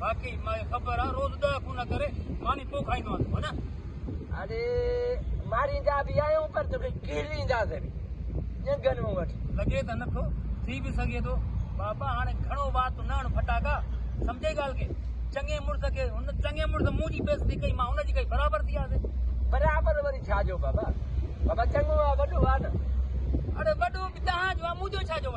باقي ماکي خبر آ روز ڏهه فون ڪري ماني پو کائيندو آهين تون هن. اڙي ماريندا به آهيون پر توکي ڪيرينداسين به ڄنگهن مان وٺي. لڳي ته نٿو، ٿي به سگهي ٿو. بابا هاڻي گهڻو وات نه هڻ ڦٽاڪا، سمجهئي ڳالهه کي. چڱي مڙس کي هن چڱي مڙس مون جي بيعزتي ڪئي مان هن جي ڪئي برابر ٿي آسي. برابر وري ڇا جو بابا، بابا چڱو آ وڏو آ نه. اڙي وڏو به توهان جو آ مون جو ڇا جو.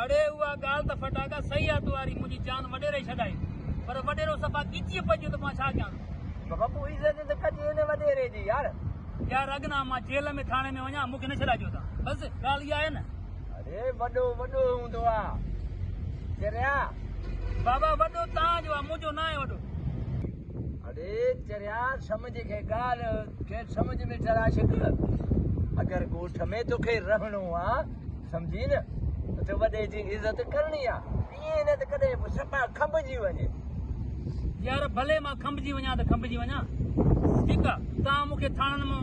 اڙي اها ڳالهه ته ڦٽاڪا صحيح آ تواري منهنجي جان وڏيرو ئي ڇڏائي پر وڏيرو صفا ڳچيء پڄيو ته مان ڇا ڪيان ٿو. بپو عزت ته ڪجي هن وڏيري جي يار. يار اگنا مان جيل ۾ ٿاڻي ۾ وڃان مونکي نه ڇڏائجو تان بس ڳالهه اها آهي نه. اڙي وڏو وڏو هوندو آ چريا. بابا وڏو تان جو آ منهنجو ناهي وڏو. اڙي چريا سمجهه کي ڳالهه کي سمجهه ۾ چرا ڇڪ اگر ڳوٺ ۾ توکي رهڻو آ سمجهي نه ته وڏي جي عزت ڪرڻي آ ائين نه ته ڪڏهن به سپا کنڀجي وڃي يار ڀلي مان کنڀجي وڃان ته کنڀجي وڃان ٺيڪ آ تان مونکي ٿاڻن مان